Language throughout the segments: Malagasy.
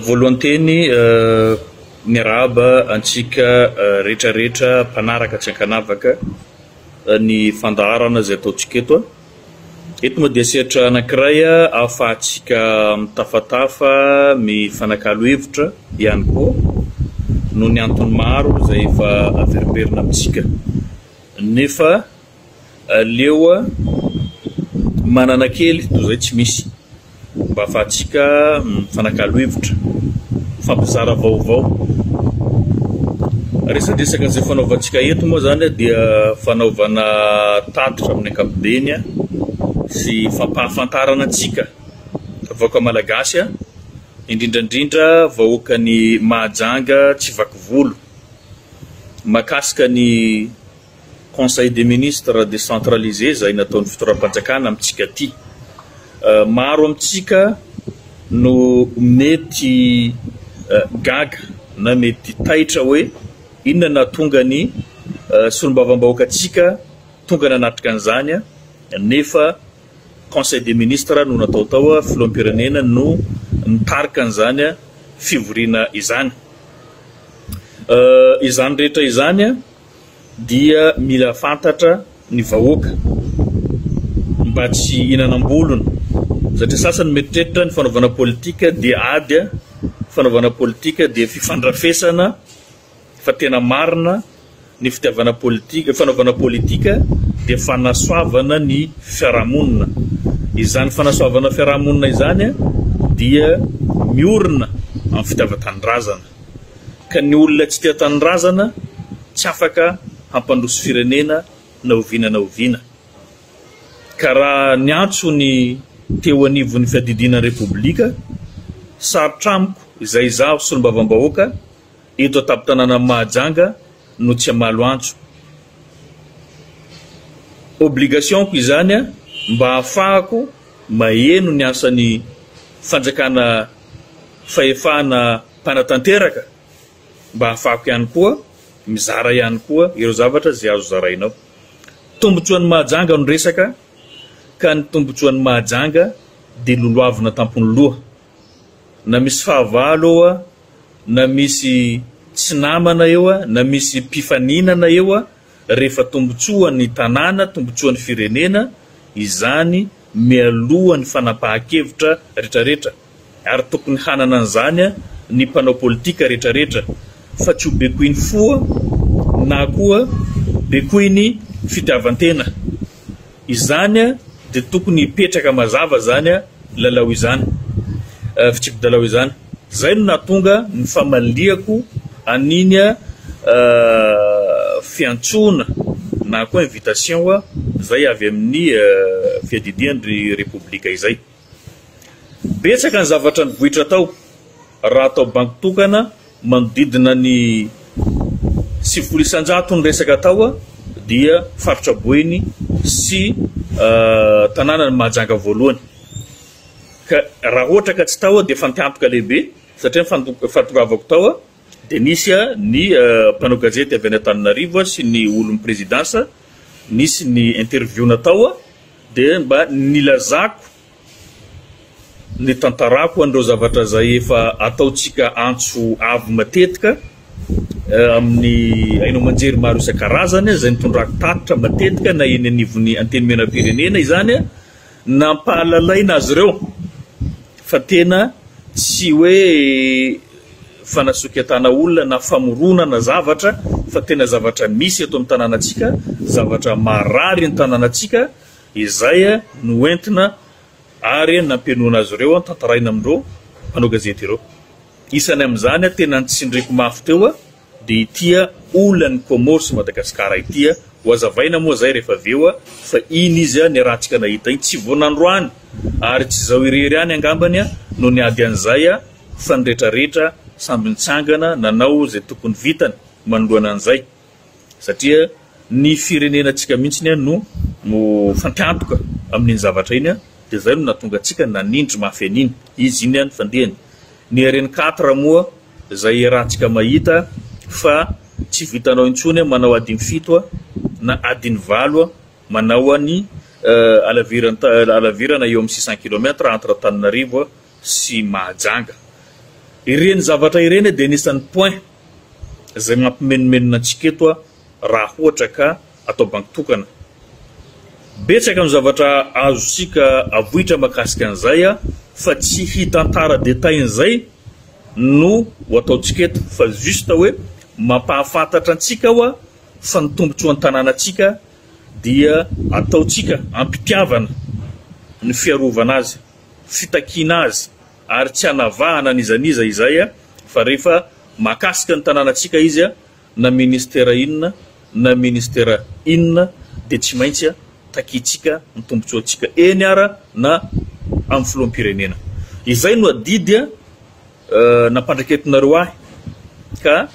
Voalohany teny, miarahaba antsika rehetrarehetra mpanaraka tsy ankanavaka ny fandaharana izay ataontsika eto. Eto moa dia sehatra anankiray ahafahantsika mitafatafa, mifanakalo hevitra ihany koa noho ny antony maro izay efa averimberina amintsika. Nefa Aleo manana kely toy izay tsy misy mba afahantsika mifanakalo hevitra, mifampizara vaovao. Resadresaka izay fanaovantsika eto moa izany dia fanaovana tatitra amin'ny ankapobeny sy fampahafantarana antsika vahoaka malagasy, indrindra indrindra vahoakan'i Mahajanga Tsivakivolo mahakasika ny Conseil des ministres décentralisé izay nataon'ny fitondram-panjakana amintsika aty. Maro amintsika no mety gaga na mety taitra hoe inona no nahatonga ny solombavambahoakantsika tonga nanatrika an'izany nefa Conseil des ministres no natao tao, filoham-pirenena no nitarika an'izany fivoriana izany. Izany rehetra izany. dia mila fantatra ny vahoaka mba tsy hinanam-bolony satria sasany mieritreritra ny fanaovana politika dia ady a, fanaovana politika dia fifandrafesana fa tena marina ny fitiavana politika, fanaovana politika dia fanasoavana ny fiarahamonina, izany fanasoavana fiarahamonina izany dia miorina amin'ny fitiavan-tanindrazana. ka ny olona tsy tia tanindrazana tsy afaka hampandroso firenena na oviana na oviana ka raha niantso ny teo anivon'ny fiadidiana repoblika sarotra amiko izay izaho solombavambahoaka eto an-tampon-tanànan'i Mahajanga no tsy hamalo antso obligationko izany mba hahafahako maheno ny asan'ny fanjakana fahefana mpanatanteraka mba hahafahako ihany koa mizara ihany koa ireo zavatra izay azo zaraina ao. Tombontsoan'i Mahajanga no resaka ka ny tombontsoan'i Mahajanga dia lolohavina tampon'ny loha. Na misy fahavalo eo, na misy tsy namana eo, na misy mpifaninana eo, rehefa tombotsoan'ny tanàna, tombotsoan'ny firenena izany mialoha ny fanapahan-kevitra retraretra ary tokony hanana an'izany ny mpanao politika retraretra fa tsy ho bekoin'ny foa na koa bekoin'ny fitiavan-tena. Izany dia tokony hipetraka mazava izany lalao izany, fitsipi-dalao izany. Izay no nahatonga ny famaliako an'iny fiantsoana na koa invitation izay avy amin'ny Fiadidian-dry Repoblika izay. Betsaka ny zavatra nivoitra tao raha atao bango tokana manodidina ny sivifolo isan-jato ny resaka tao dia Faritra Boeny sy tanànan'i Mahajanga voalohany. Ka raha ohatra ka tsy tao aho dia efa nitampika lehibe satria ny fahatongavako tao dia nisy ny mpanao gazety avy any Antananarivo sy ny olon'ny Présidence, nisy ny interview natao dia mba nilazako ny tantarako an'ireo zavatra izay efa ataontsika antso avo matetika amin'ny haino aman-jery maro isan-karazany izay nitondrako tatitra matetika na eny anivon'ny Antenimierampirenena izany Nampahalalaina azy ireo fa tena tsy hoe fanasoketana olona na famoronana zavatra fa tena zavatra misy eto amin'ny tanànantsika, zavatra marary ny tanànantsika, izay no entina ary nampienoana azy ireo, tantaraina amin'ireo mpanao gazety ireo. Isany amin'izany tena nitsindriako mafy teo. Dia ity a, olan'ny Comores sy Madagascar ity a, ho azavaina moa zay rehefa avy eo a, fa iny izy a, ny rahantsika nahita iny, tsy vao nandroany, ary tsy zao irery ihany angambany a, no niady an'izay a, fa ny rehetra rehetra samby nitsangana nanao zay tokony vitany manoloana an'izay, satria ny firenenantsika mihitsiny a no mifankantoka amin'iny zavatra iny a, dia zay no nahatonga antsika nanindry mafy an'iny izy iny a, ny fandehany, ny RN quatre moa Zay iarahantsika mahita fa tsy vitanao intsony manao adiny fito na adiny valo manao any alavirana eo amin'ny six cent kilomètre entre Antananarivo sy Mahajanga. Ireny zavatra ireny dia anisan'ny point zay mampimenomenona antsika eto. raha ohatra ka atao banky tokana. Betsaka ny zavatra azontsika avoitra makasika an'izay fa tsy hitantara détails an'izay no ho ataontsika eto fa juste hoe mampahafantatra antsika aho fa ny tombotsoan'ny tanànantsika dia ataontsika am-pitiavana ny fiarovana azy, fitakiana azy ary tsy anavahana an'iza n'iza izay fa rehefa mahakasika ny tanànantsika izy na ministera inona na ministera inona dia tsy maintsy takiantsika ny tombontsoantsika eny ara na amin'ny filoham-pirenena. Izay no adidy nampandraiketinareo ahy ka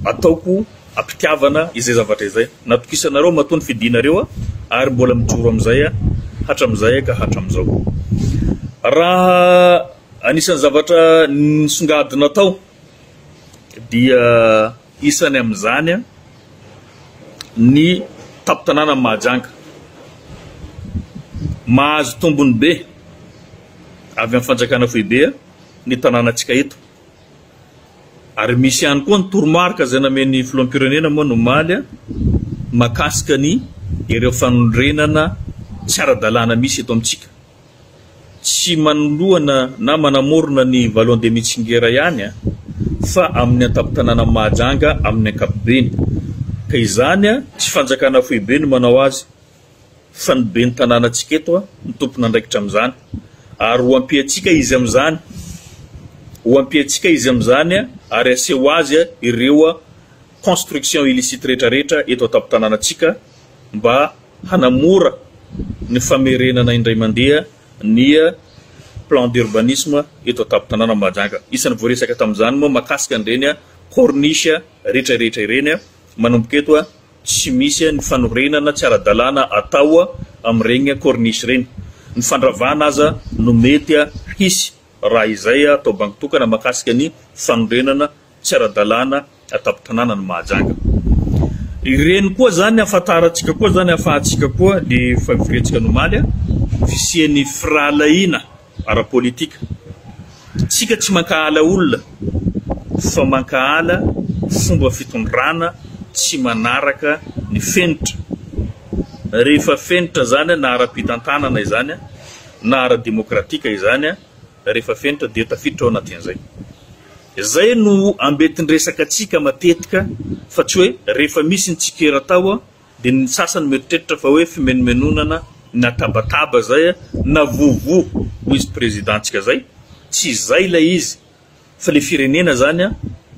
ataoko am-pitiavana izay zavatra izay. Natokisanareo matoa ny fidianareo ary mbola mijoro amin'izay hatramin'izay ka hatramin'izao. Raha anisan'ny zavatra nisongadina tao. dia isany amin'izany ny tampon-tanànan'i Mahajanga. Mahazo tombony be avy amin'ny fanjakana foibe ny tanànantsika eto ary misy ihany koa ny toromarika izay namen'ny filoham-pirenena moa ny omaly mahakasika ny ireo fanorenana tsy ara-dalàna misy eto amintsika. tsy manoloana na manamorona ny Vallon de Mitsingera ihany fa amin'ny antampon-tanànan'i Mahajanga amin'ny ankapobeny. Ka izany tsy fanjakana foibe no manao azy fa ny ben'ny tanànantsika eto no tompon'andraikitra amin'izany ary ho ampiantsika izy amin'izany, ho ampiantsika izy amin'izany ary aseho azy ireo construction illicite rehetra rehetra eto an-tampon-tanànantsika mba hanamora ny famerenana indray mandeha ny plan d'urbanisme eto an-tampon-tanàna Mahajanga. Isan'ny voaresaka tamin'izany moa mahakasika an'ireny corniche rehetra rehetra ireny manomboka eto tsy misy ny fanorenana tsy ara-dalàna atao amin'ireny corniche ireny. Ny fandravana aza no mety hisy raha izay atao bango tokana mahakasika ny fanorenana tsy ara-dalàna an-tampon-tanàna ny Mahajanga. Ireny koa izany ahafantarantsika koa izany ahafahantsika koa ny fivoriantsika ny omaly ny fisian'ny firahalahiana ara-politika. Isika tsy mankahala olona fa mankahala fomba fitondrana tsy manaraka ny fenitra. Rehefa fenitra izany na ara-pitantanana izany na ara-demokratika izany Rehefa fenitra dia tafiditra ao anatin'izay. Izay no ambetin-dresaka antsika matetika fa tsy hoe rehefa misy ny tsikera tao dia ny sasany mieritreritra fa hoe fimenomenonana na tabataba izay na vovo hoy izy président ntsika izay, tsy izay ilay izy. Fa le firenena zany a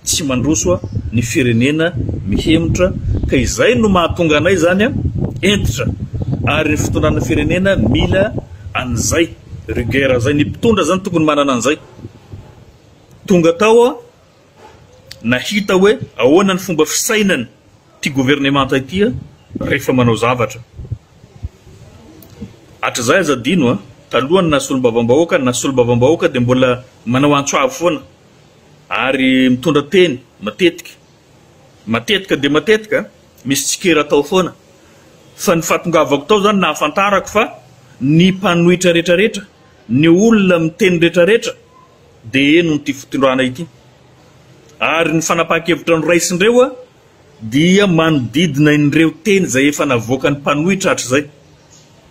tsy mandroso a ny firenena mihemotra ka izay no mahatonga anay zany a entitra ary ny fitondrana firenena mila an'izay rigueur zay ny mpitondra zany tokony manana an'izay tonga tao a nahita hoe ahoana ny fomba fisainany Ity governemanta ity a rehefa manao zavatra hatrizay aza adino a taloha ny nasolombavambahoaka ny nasolombavambahoaka dia mbola manao antso avo foana ary mitondra teny matetika matetika dia matetika misy tsikera tao foana fa ny fahatongavako tao izany nahafantarako fa ny mpanohitra rehetra rehetra ny olona miteny rehetra rehetra dia henon'ity fitondrana ity Ary ny fanapahan-kevitra noraisin'ireo dia manodidina ireo teny izay efa navoakan'ny mpanohitra hatrizay.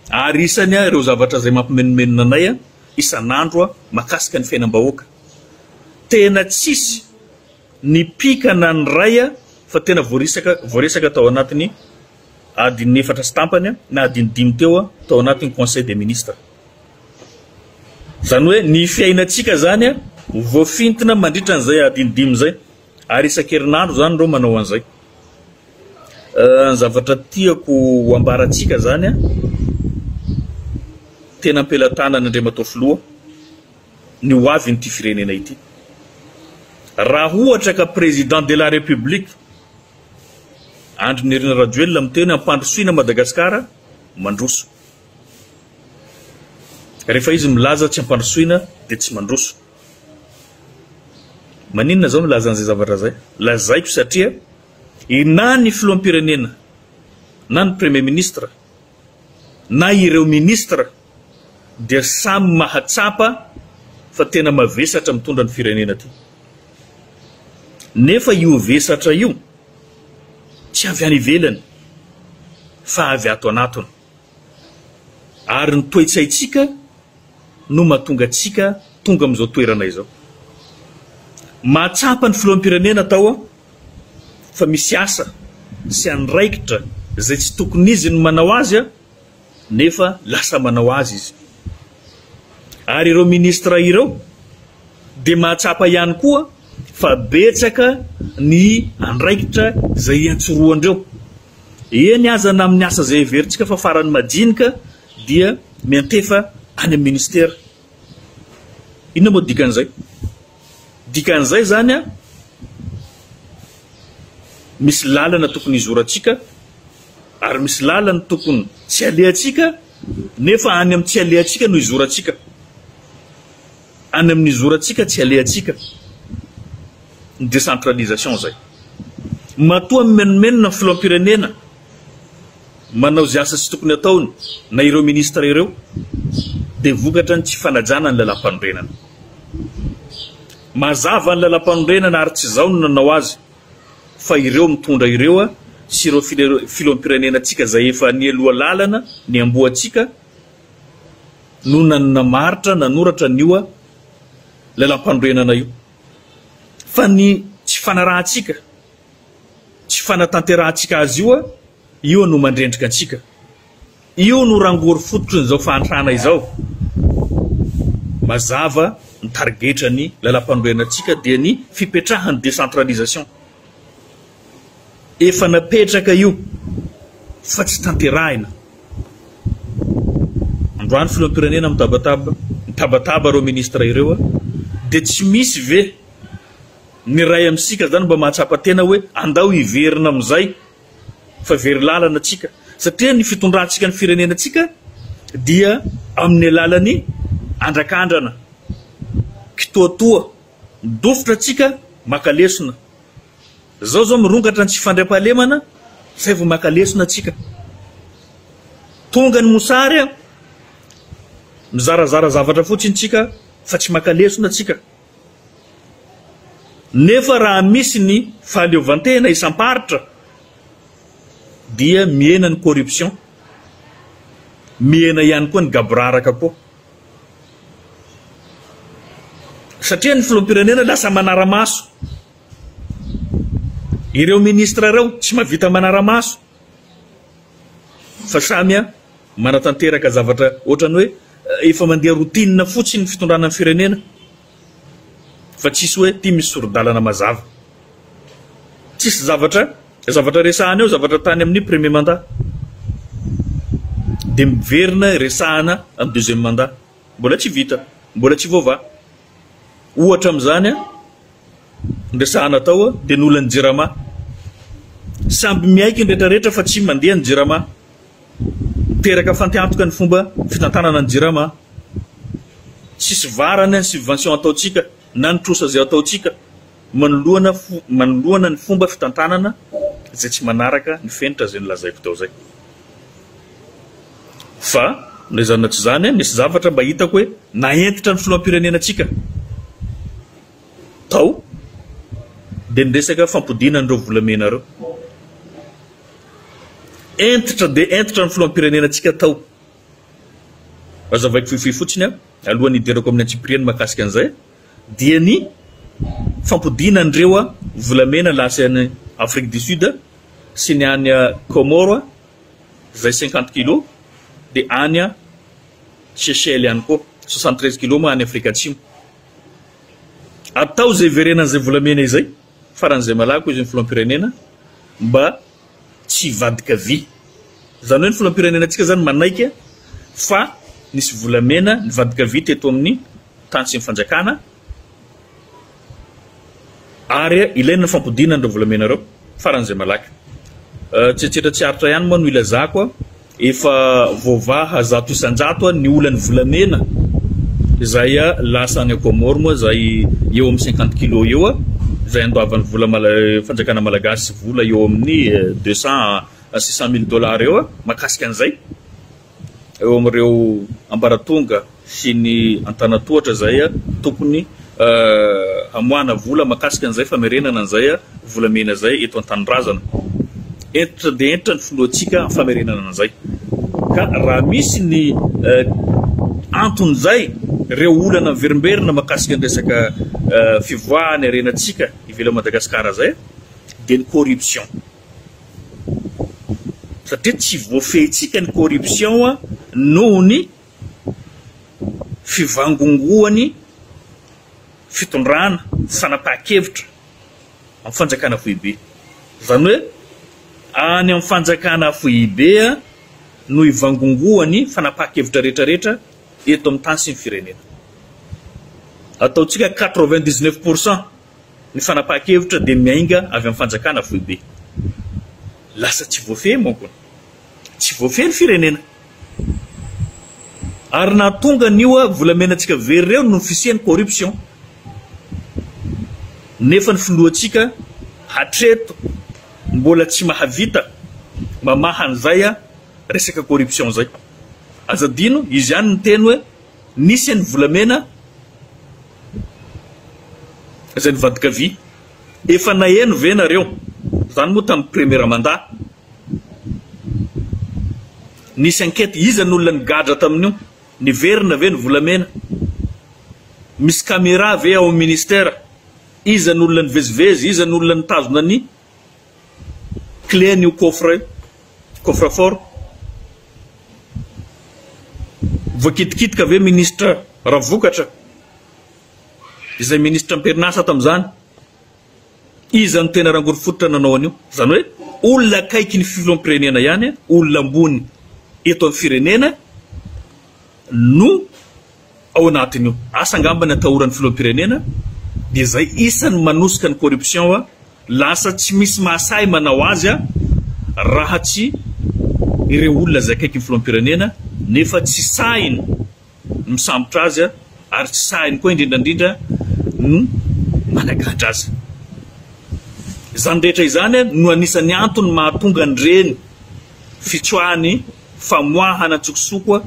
Ary isany ireo zavatra izay mampimenomenona anay isan'andro mahakasika ny fiainam-bahoaka. Tena tsisy ny pika na ny ray fa tena voarisaka voaresaka tao anatin'ny adin'ny efatra sy tampany na adin'ny dimy teo tao anatin'ny Conseil des ministres. Izany hoe ny fiainantsika izany ho voafintina mandritra an'izay adiny dimy izay, ary isan-kerinandro izany ireo manao an'izay. Ny zavatra tiako ho ambarantsika izany, tena am-pelatanana Andriamatoa Filoha, ny ho avin'ity firenena ity. Raha ohatra ka Président de la République Andry Nirina Rajoelina miteny hampandrosoina Madagasikara, mandroso. Rehefa izy milaza tsy ampandrosoina dia tsy mandroso. Maninona zao milaza an'izay zavatra zay? Lazaiko satria na ny filoham-pirenena na ny premier ministre na ireo ministre dia samy mahatsapa fa tena mavesatra mitondra ny firenena ty. Nefa io vesatra io tsy avy any ivelany fa avy ato anatony. Ary ny toe-tsaintsika no mahatonga antsika tonga amin'izao toerana izao. Mahatsapa ny filoham-pirenena tao aho fa misy asa sy andraikitra izay tsy tokon'izy ny manao azy aho nefa lasa manao azy izy. Ary ireo ministra ireo dia mahatsapa ihany koa fa betsaka ny andraikitra izay iantsorohandreo. Eny aza na amin'ny asa izay heverintsika fa faran'ny madinika dia miantefa any amin'ny ministera. Inona moa dikan'izay? Dikan'izay izany misy lalana tokony hizorantsika ary misy lalana tokony tsy alehantsika nefa any amin'ny tsy alehantsika no hizorantsika. Any amin'ny zorantsika tsy alehantsika ny décentralisation izay. Matoa mimenomenona ny filoham-pirenena manao izay asa tsy tokony hataony na ireo ministra ireo dia vokatra ny tsy fanajana ny lalam-panorenana. Mazava ny lalam-panorenana ary tsy izao no nanao azy fa ireo mitondra ireo sy ireo filoham-pirenenantsika izay efa nialoha lalana niamboho antsika no nanamaritra nanoratra an'io lalampanorenana io fa ny tsy fanarahantsika, tsy fanatanterahantsika azy io, io no mandrendrika antsika, io no rangory fototry n'izao fahantrana izao. Mazava ny tarigetran'ny lalampanorenantsika dia ny fipetrahan'ny décentralisation. Efa napetraka io fa tsy tanterahina. Androany filoham-pirenena mitabataba, mitabataba ireo ministra ireo a! Dia tsy misy ve ny iray amintsika izany mba mahatsapa tena hoe andao hiverina amin'izay fa very lalana tsika satria ny fitondrantsika ny firenenantsika dia amin'ny alalan'ny andrakandrana, kitoatoa, dofotra tsika maka lesona. Izao izao mirongatra ny tsy fandriampahalemana izay vao maka lesona antsika. Tonga ny mosary a! Mizarazara zavatra fotsiny tsika fa tsy maka lesona tsika. Nefa raha misy ny fahaleovantena isam-paritra dia mihena ny corruption, mihena ihany koa ny gaboraraka koa. Satria ny filoham-pirenena lasa manara-maso Ireo ministra ireo tsy mahavita manara-maso fa samy manatanteraka zavatra ohatran'ny hoe efa mandeha routine fotsiny ny fitondrana ny firenena fa tsisy hoe ity misy sori-dalana mazava. Tsisy zavatra zavatra resahana eo zavatra tany amin'ny premier mandat dia miverina resahana amin'ny deuxième mandat. Mbola tsy vita, mbola tsy voavaha. Ohatra amin'izany Resahana tao dia nolan'ny Jirama. Samby miaiky ny retraretra fa tsy mandeha ny Jirama. Niteraka fantehantoka ny fomba fitantanana ny Jirama. Tsisy varany ny subvention ataontsika na ny trosa izay ataontsika manoloana manoloana ny fomba fitantanana izay tsy manaraka ny fenitra izay nolazaiko teo izay. Fa na izany na tsy izany misy zavatra mba hitako hoe nahentitra ny filoham-pirenena antsika. tao dia ny resaka fampodiana an'ireo volamena ireo. Entitra dia entitra ny filoham-pirenena antsika tao. Azavaiko fohifohy fotsiny aho, alohan'ny hiderako amin'ny antsipiriany mahakasika an'izay, dia ny fampodiana an'ireo volamena lasa any Afrique du Sud sy ny any Comores izay cinquante kilos dia any Seychelles ihany koa, soixante treize kilos moa any Afrika Atsimo. Atao izay hiverenany izay volamena izay, faran'izay malaky hoy izy ny filoham-pirenena, mba tsy hivadika vy. Izany hoe ny filoham-pirenenantsika izany manaiky fa nisy volamena nivadika vy teto amin'ny tany sy ny fanjakana ary ilaina ny fampodiana an'ireo volamena ireo faran'izay malaky. Tsetsitra tsy aritra ihany moa no ilazako Efa voavaha zato isan-jato ny olan'ny volamena izay lasa any Comores moa izay eo amin'ny cinquante kilos eo izay andoavan'ny vola fanjakana malagasy vola eo amin'ny deux cent à six cent mille dollars eo mahakasika an'izay eo amin'ireo ambaratonga sy ny Antanatohatra izay tokony hamoahana vola makasika an'izay famerenana an'izay volamena izay eto an-tanindrazana. Hentitra dia hentitra ny filohantsika amin'ny famerenana an'izay. Ka raha misy ny anton'izay, ireo olana miverimberina makasika ny resaka fivoahan'ny harenantsika ivelan'i Madagasikara izay dia ny corruption. Satria tsy voafehintsika ny corruption noho ny fivangongoan'ny fitondrana fanapahan-kevitra amin'ny fanjakana foibe. Izany hoe any amin'ny fanjakana foibe no hivangongoan'ny fanapahan-kevitra rehetrarehetra eto amin'ny tany sy ny firenena. Ataontsika quatre-vingt-dix-neuf pour cent. Ny fanapahan-kevitra dia miainga avy amin'ny fanjakana foibe. Lasa tsy voafehy manko ny. Tsy voafehy ny firenena. Ary nahatonga an'io volamenantsika very ireo no fisian'ny corruption. Nefa ny filohantsika hatreto mbola tsy mahavita mamaha an'izay resaka corruption izay. Aza adino, izy ihany niteny hoe. Nisy an'i Volamena izay nivadikavia. Efa naheno ve nareo izany moa tamin'ny premiera manda? Nisy ankety iza ny olona nigadra tamin'io? Niverina ve ny volamena? Misy camera ve ao amin'ny ministera? Iza ny olona nivezivezy? Iza ny olona nitazona ny Clé an'io coffre io, coffre fort. Voakitikitika ve ministra Ravokatra, izay ministra am-perinasa tamin'izany? Iza no tena rangorofototra nanao an'io? Izany hoe olona akaiky ny filoham-pirenena ihany, olona ambony eto amin'ny firenena no ao anatin'io asa angamba ny atahoran'ny filoham-pirenena dia izay isany manosika ny corruption a lasa tsy misy mahasahy manao azy a raha tsy ireo olona izay akaiky ny filoham-pirenena nefa tsy sahiny ny misambotra azy a ary tsy sahiny koa indrindra indrindra ny managadra azy izany rehetra izany no anisan'ny antony mahatonga an'ireny fitsoahany famoahana an-tsokosoko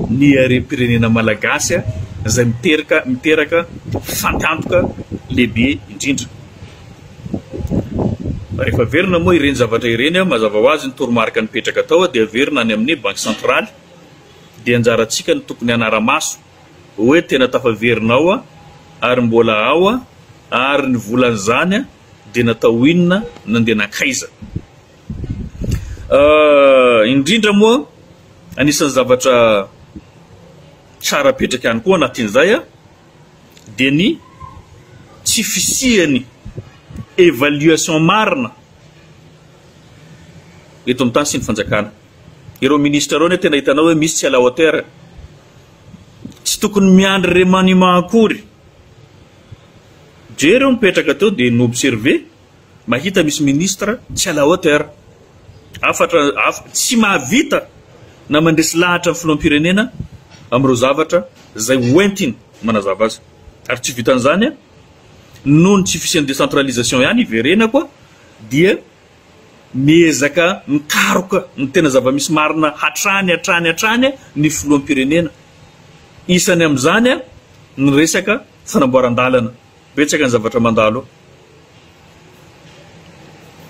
ny harem-pirenena malagasy izay miteraka miteraka fatiantoka lehibe indrindra. Rehefa averina moa ireny zavatra ireny, mazava ho azy ny toromarika nipetraka tao dia averina any amin'ny Banky Santraly, dia anjarantsika no tokony hanara-maso hoe tena tafaverina ao ary mbola ao ary ny volan'izany dia natao inona, nandeha nankaiza. Indrindra moa, anisan'ny zavatra tsara apetraka ihany koa anatin'izay dia ny tsy fisian'ny évaluation marina eto amin'ny tany sy ny fanjakana. Ireo ministra ireo anie tena hitanao hoe misy tsy à la hauteur. Tsy tokony miandry remaniement akory. Jereo mipetraka teo dia ni-observer Mahita misy ministre tsy à la hauteur. Hafatra tsy mahavita na mandresy lahatra ny filoham-pirenena amin'ireo zavatra izay hoentiny manazava azy. Ary tsy vitan'izany, noho ny tsy fisian'ny décentralisation ihany iverenako dia miezaka mikaroka ny tena zava-misy marina hatrany hatrany hatrany ny filoham-pirenena. Isany amin'izany ny resaka fanamboaran-dalana. Betsaka ny zavatra mandalo,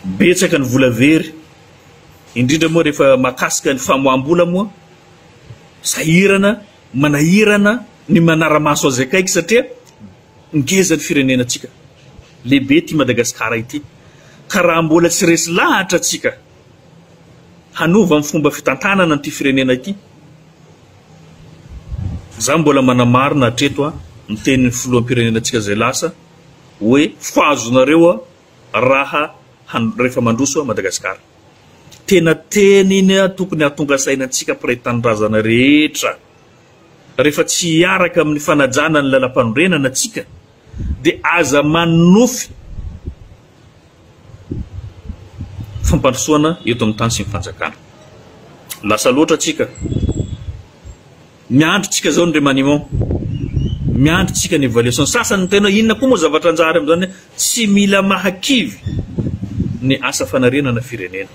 betsaka ny vola very, indrindra moa rehefa mahakasika ny famoaham-bola moa, sahirana, manahirana ny manara-maso azy akaiky satria ngeza ny firenenantsika, lehibe ity Madagasikara ity ka raha mbola tsy resy lahatra tsika, hanova ny fomba fitantanana an'ity firenena ity. Izaho mbola manamarina hatreto ny tenin'ny filoham-pirenenantsika izay lasa hoe ho azonareo raha rehefa mandroso an'i Madagasikara. Tena teniny tokony hahatonga saina antsika mpiray tanindrazana rehetra. Rehefa tsy hiaraka amin'ny fanajana ny lalam-panorenana antsika dia aza manonofy fampandrosoana eto amin'ny tany sy ny fanjakana. Lasa loatra tsika. Miandry tsika zao ny remaniement. Miandry tsika ny évaluation. Sasany tena inona koa moa zavatra anjary amin'izany tsy mila mahakivy ny asa fanarenana firenena.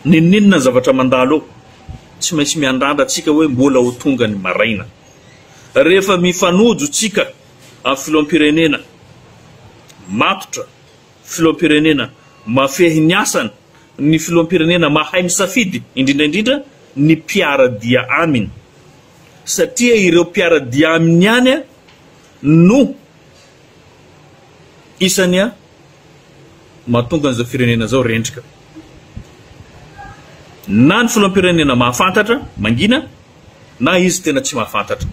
Ninoninona ny zavatra mandalo eo. Tsy maintsy miandrandra tsika hoe mbola ho tonga ny maraina. Rehefa mifanojo tsika Ary filoham-pirenena matotra, filoham-pirenena mafehy ny asany, ny filoham-pirenena mahay misafidy, indrindra indrindra ny mpiara-dia aminy. Satria ireo mpiara-dia aminy ihany no isany mahatonga an'izao firenena izao rendrika. Na ny filoham-pirenena mahafantatra, mangina, na izy tena tsy mahafantatra.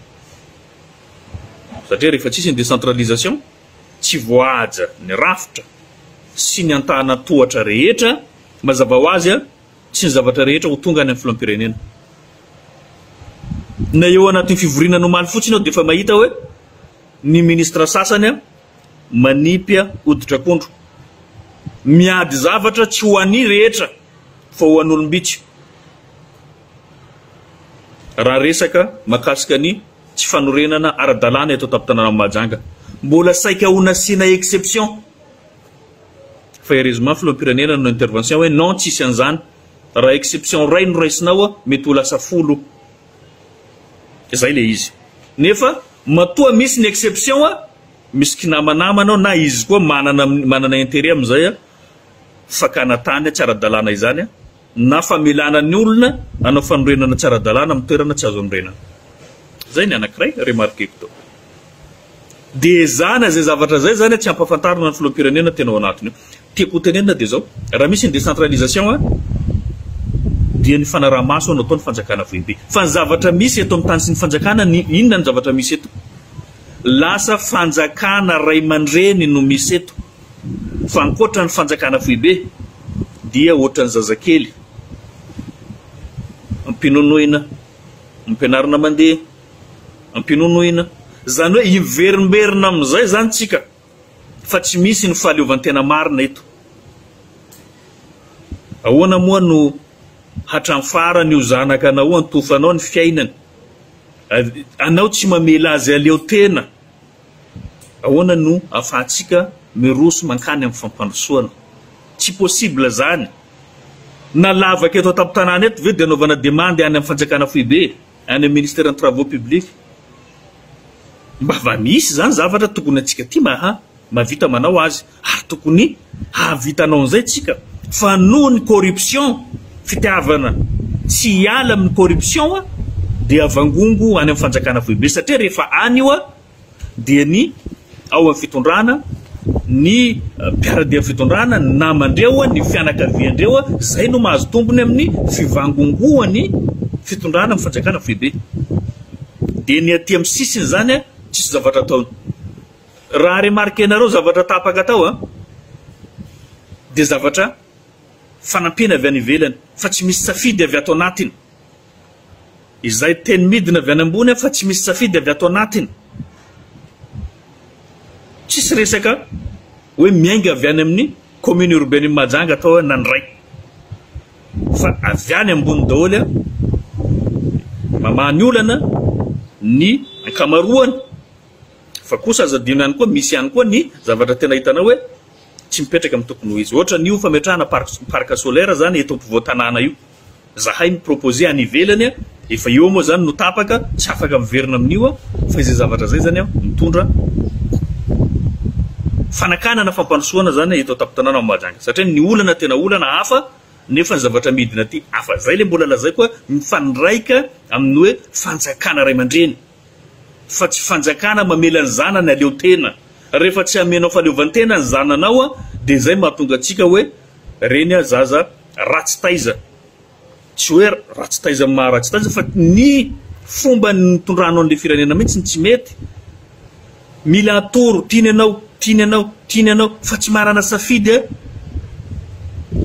Satria rehefa tsisy ny décentralisation, tsy voahaja ny rafitra sy ny antanan-tohatra rehetra, mazava ho azy tsy ny zavatra rehetra ho tonga any amin'ny filoham-pirenena. Na eo anatin'ny fivoriana ny omaly fotsiny aho dia efa mahita hoe ny ministra sasany manipy hoditr'akondro. Miady zavatra tsy ho an'ny rehetra fa ho an'olom-bitsy. Raha resaka mahakasika ny tsy fanorenana ara-dalàna eto an-tampon-tanànan'i Mahajanga, mbola saika ho nasiana exception fa heureusement filoham-pirenena nanao intervention hoe non tsisy an'izany, raha exception iray no raisina ao mety ho lasa folo, izay ilay izy. Nefa matoa misy ny exception, misy kinamanamana ao na izy koa manana manana interet amin'izay fakana tany tsy ara-dalàna izany. na famelana ny olona hanao fanorenana tsy ara-dalàna amin'ny toerana tsy azo anorenana. Izay ny anankiray remarqueko tao. Dia ezahana izay zavatra izay izany tsy hampafantarina ny filoham-pirenena tena ao anatiny ao. Tiako ho tenenina dia izao, raha misy ny décentralisation dia ny fanaraha-maso no ataon'ny fanjakana foibe. Fa ny zavatra misy eto amin'ny tany sy ny fanjakana, ny inona ny zavatra misy eto? Lasa fanjakana ray aman-dreny no misy eto. fa ankoatra ny fanjakana foibe dia ohatran'ny zazakely ampinonoina, ampianarina mandeha, ampinonoina, zany hoe hiverimberina amin'izay zany tsika fa tsy misy ny fahaleovantena marina eto. Ahoana moa no hatram farany io zanaka anao antofanao ny fiainany, anao tsy mamela azy aleo tena Ahoana no afahantsika miroso mankany amin'ny fampandrosoana? Tsy possible izany! Na lavaka eto an-tampon-tanàna eto ve dia anaovana demande any amin'ny fanjakana foibe, any amin'ny ministeran'ny travaux publics? Mba va misy izany zavatra tokony antsika ity maha mahavita manao azy? Ary tokony hahavita anao an'izay tsika fa noho ny corruption fitiavana tsy hiala amin'ny corruption dia vangongo any amin'ny fanjakana foibe satria rehefa any io dia ny ao amin'ny fitondrana ny mpiaradia amin'ny fitondrana ny namandreo ny fianakaviandreo izay no mahazo tombony amin'ny fivangongoan'ny fitondrana amin'ny fanjakana foibe dia ny aty amin'ny sisiny izany tsisy zavatra ataony Raha remarquenareo zavatra tapaka tao a, dia zavatra fanampiana avy any ivelany fa tsy misy safidy avy ato anatiny. Izay teny midina avy any ambony a fa tsy misy safidy avy ato anatiny. Tsisy resaka hoe miainga avy any amin'ny commune urbaine Mahajanga atao na ny ray. Fa avy any ambony daholo a, mamaha ny olana ny ankamaroany Fa kosa aza adino ihany koa misy ihany koa ny zavatra tena hitanao hoe tsy mipetraka amin'ny tokony ho izy. Ohatra an'io fametrahana parc solaire zany eto ampovoan-tanàna io. Zahay mi-proposer any ivelany a, efa eo moa zany no tapaka, tsy afaka miverina amin'io aho, fa izay zavatra izay zany aho mitondra fanakanana fampandrosoana zany eto an-tampon-tanàna ao Mahajanga. Satria ny olana tena olana hafa nefa ny zavatra midina aty hafa. Zay le mbola lazaiko hoe mifandraika amin'ny hoe fanjakana ray aman-dreny. Fa tsy fanjakana mamela ny zanany aleo tena. Rehefa tsy amenao fahaleovantena ny zananao a dia zay mahatonga antsika hoe reny a zaza ratsy taiza. Tsy hoe ratsy taiza amin'ny maha ratsy taiza fa ny fomba nitondranao an'ilay firenena mihitsy no tsy mety. Mila atoro tiany ianao, tiany ianao, tiany ianao fa tsy manana safidy a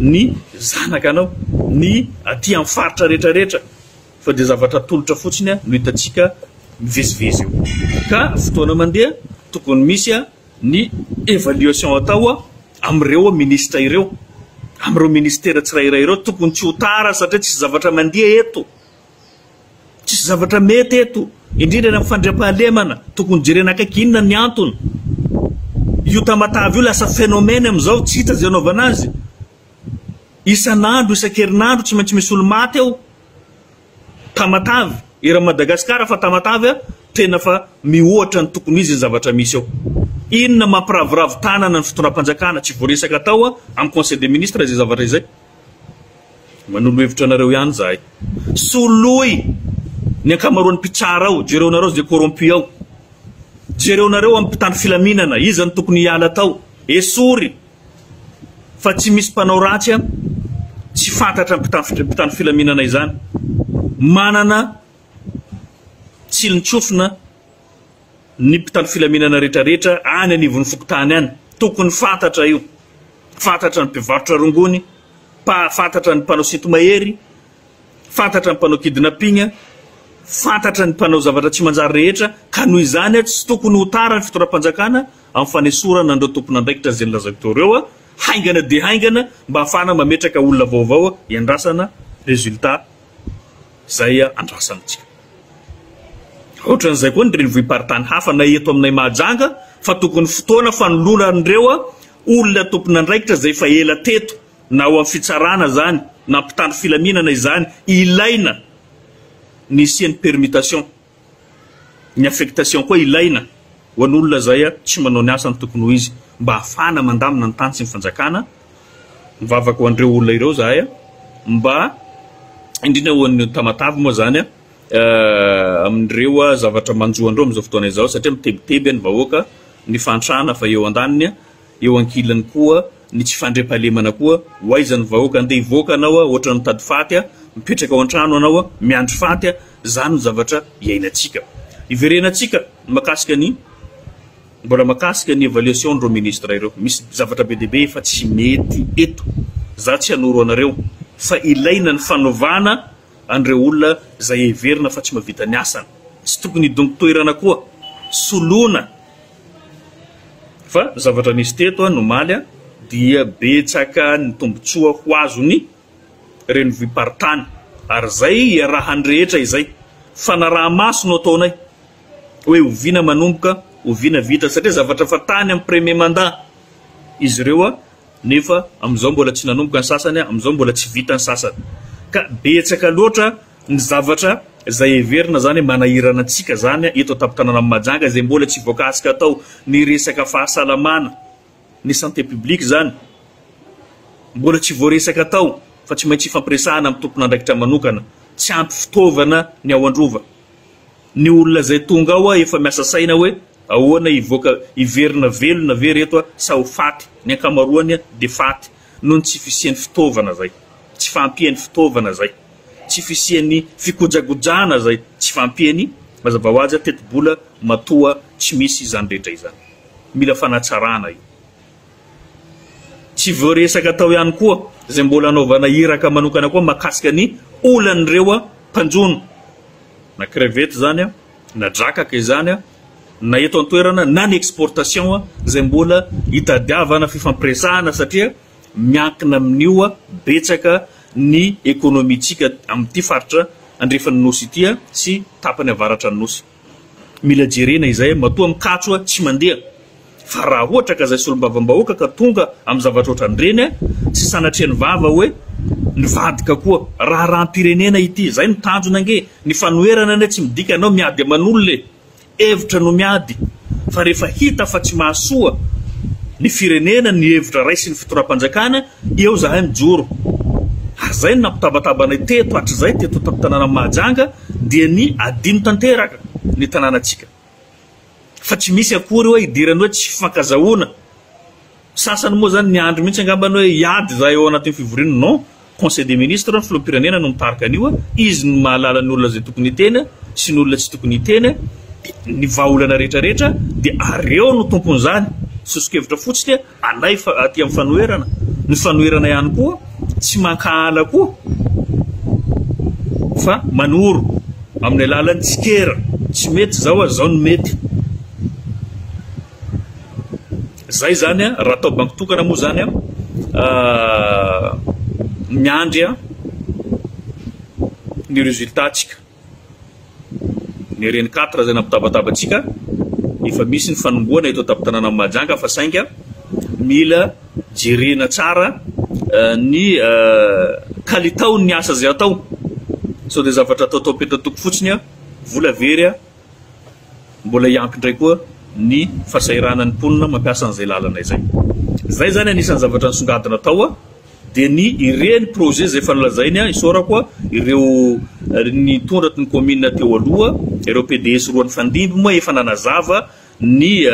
ny zanakanao, ny aty amin'ny faritra rehetra rehetra. fa dia zavatra atolotra fotsiny no hitantsika mivezivezy eo. Ka fotoana mandeha tokony misy ny evaluation atao amin'ireo minisitra ireo, amin'ireo ministera tsirairay ireo, tokony tsy ho tara satria tsisy zavatra mandeha eto, tsisy zavatra mety eto, indrindra eny amin'ny fandriampahalemana, tokony jerena akaiky inona ny antony. Io Tamatave io lasa phénomène amin'izao, tsy hita izay anaovana azy. Isan'andro, isan-kerinandro tsy maintsy misy olo-maty ao Tamatave, eran'i Madagasikara fa Tamatave a, tena fa mihoatra ny tokony ho izy ny zavatra misy ao. Inona mampiraviravy tanana ny fitondram-panjakana, tsy voaresaka atao a, amin'ny conseil des ministres izay zavatra izay. Manolo hevitra anareo ihany izahay. Soloy ny ankamaroan'ny mpitsara ao, jereonareo izay corrompu ao. Jereonareo amin'ny mpitandro filaminana, iza no tokony hiala tao. Esory. fa tsy misy mpanao ratsy an tsy fantatra mpitandro filaminana izany manana tsilontsofina ny mpitandro filaminana rehetrarehetra any anivon'ny fokontany any tokony fantatra io fantatra ny mpivarotra rongony fantatra ny mpanao sintomahery fantatra ny mpanao kidnapping fantatra ny mpanao zavatra tsy manjary rehetra ka noho izany tsy tokony ho tara ny fitondram-panjakana amin'ny fanesorana an'ireo tompon'andraikitra izay nolazaiko teo ireo haingana dia haingana mba hahafahana mametraka olona vaovao hiandrasana résultat izay andrasana antsika. Ohatran'izay koa ny renivohi-paritany hafa na eto aminay Mahajanga fa tokony fotoana fanoloana an'ireo olona tompon'andraikitra izay efa ela teto na ao amin'ny fitsarana izany na mpitandro filaminana izany ilaina ny hisian'ny permutation. Ny affectation koa ilaina ho an'olona izay tsy manao ny asany tokony ho izy mba hahafahana mandamina ny tany sy ny fanjakana. Mivavaka ho an'ireo olona ireo izahay mba indrindra ho an'ny Tamatave moa izany amin'ireo zavatra manjo an'ireo amin'izao fotoana izao satria mitebiteby ny vahoaka, ny fahantrana efa eo an-daniny. Eo ankilany koa ny tsy fandriampahalemana koa, ho aiza ny vahoaka andeha hivoaka anao a, ohatrany mitady faty a, mipetraka ao antrano anao a, miandry faty a, zany no zavatra iainantsika. Hiverenantsika ny makasika ny mbola makasika ny evaluation n'ireo ministres ireo. Misy zavatra be dia be efa tsy mety eto. Za tsy hanoro anareo fa ilaina ny fanovana an'ireo olona zay heverina fa tsy mahavita ny asany. Tsy tokony hidongy toerana koa. Soloina. Fa zavatra nisy teto ny omaly dia betsaka ny tombotsoa ho azon'ny renivohi-paritany ary izay iarahan'ny rehetra izay fanaraha-maso no ataonay hoe oviana manomboka, oviana vita satria zavatra efa tany amin'ny premier mandat izy ireo. nefa amin'izao mbola tsy nanomboka ny sasany, amin'izao mbola tsy vita ny sasany, ka betsaka loatra ny zavatra izay heverina izany hoe manahirana antsika izany eto an-tampon-tanànan'i Mahajanga, izay mbola tsy voakasika tao ny resaka fahasalamana, ny santé publique izany, mbola tsy voaresaka tao fa tsy maintsy ifampiresahana amin'ny tompon'andraikitra manokana, tsy ampy fitaovana ny ao Androva. Ny olona izay tonga ao efa miasa saina hoe ahoana hivoaka hiverina velona ve reto sa ho faty, ny ankamaroany dia faty noho ny tsy fisian'ny fitaovana izay, tsy fahampian'ny fitaovana izay, tsy fisian'ny fikojagojana izay, tsy fahampian'ny, mazava ho azy, tetibola matoa tsy misy izany rehetra izany. Mila fanatsarana io. Tsy voaresaka tao ihany koa izay mbola anaovana iraka manokana koa mahakasika ny olan'ireo mpanjono, na crevette izany, na drakaka izany, na eto an-toerana na ny exportation izay mbola hitadiavana fifampiresahana satria miankina amin'io betsaka ny ekonomintsika amin'ity faritra andrefan'ny Nosy ity sy tapany avaratran'ny Nosy. Mila jerena izay matoa mikatso tsy mandeha fa raha ohatra ka zay solombavambahoaka ka tonga am zavatra otran'ireny tsy sanatria ny vava hoe nivadika koa. Raharaham-pirenena ity zay no tanjona ange. Ny fanoherana anie tsy midika anao miady aman'olona e. Hevitra no miady fa rehefa hita fa tsy mahasoa ny firenena ny hevitra raisin'ny fitondram-panjakana Eo zahay mijoro. Ary zay no nampitabataba anay teto hatrizay teto an-tampon-tanànan'i Mahajanga dia ny adino tanteraka ny tanànantsika. Fa tsy misy akory hoe idiran'ny hoe tsy fifankazahoana. Sasany moa zany niandry mihitsy angamba ny hoe hiady zahay ao anatin'ny fivoriana. Non, Conseil des Ministres, ny Filoham-pirenena no mitarika an'io. Izy no mahalala ny olona izay tokony hiteny sy ny olona tsy tokony hiteny, ny vahaolana rehetra rehetra dia ary eo no tompon'izany. Soso-kevitra fotsiny. Anay fa aty amin'ny fanoherana, ny fanoherana ihany koa tsy mankahala koa fa manoro amin'ny alalan'ny tsikera, tsy mety izao ary izao no mety. Izay izany raha atao banky tokana moa izany miandry ny résultat-tsika. Ny reny quatre izay nampitabataba antsika, efa misy ny fanombohana eto an-tampon-tanànan'i Mahajanga fa sainga mila jerena tsara ny kalitaon'ny asa izay atao sao dia zavatra atao tao am-petan-toko fotsiny, vola very, mbola hiampy indray koa ny fahasahiranan'ny mponina mampiasa an'izay lalana izay. Izay izany anisan'ny zavatra nisongadina tao. Dia ny ireny projet izay efa nolazainy aho, isaorako ireo nitondrat ny commune teo aloha, ireo PDS roa nifandimby moa efa nanazava ny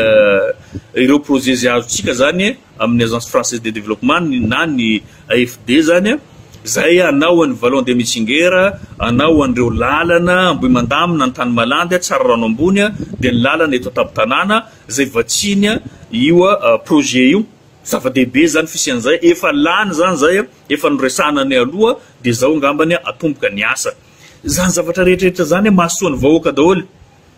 ireo projet izay azontsika izany amin ny Agence Française de Développement na ny AFD izany izay hanao an ny Vallon de Mitsinger, hanao an ireo lalana Ambohimandamina, Antanimalandy, Tsararano Ambony dia ny lalana eto an-tampon-tanàna izay vatsiany io projet io. Zava-dehibe zany fisian zay, efa lany zany zay a, efa noresahana any aloha de zao ngambany a atomboka ny asa. Zany zavatra rehetrarehetra zany a mahasoa ny vahoaka daholo.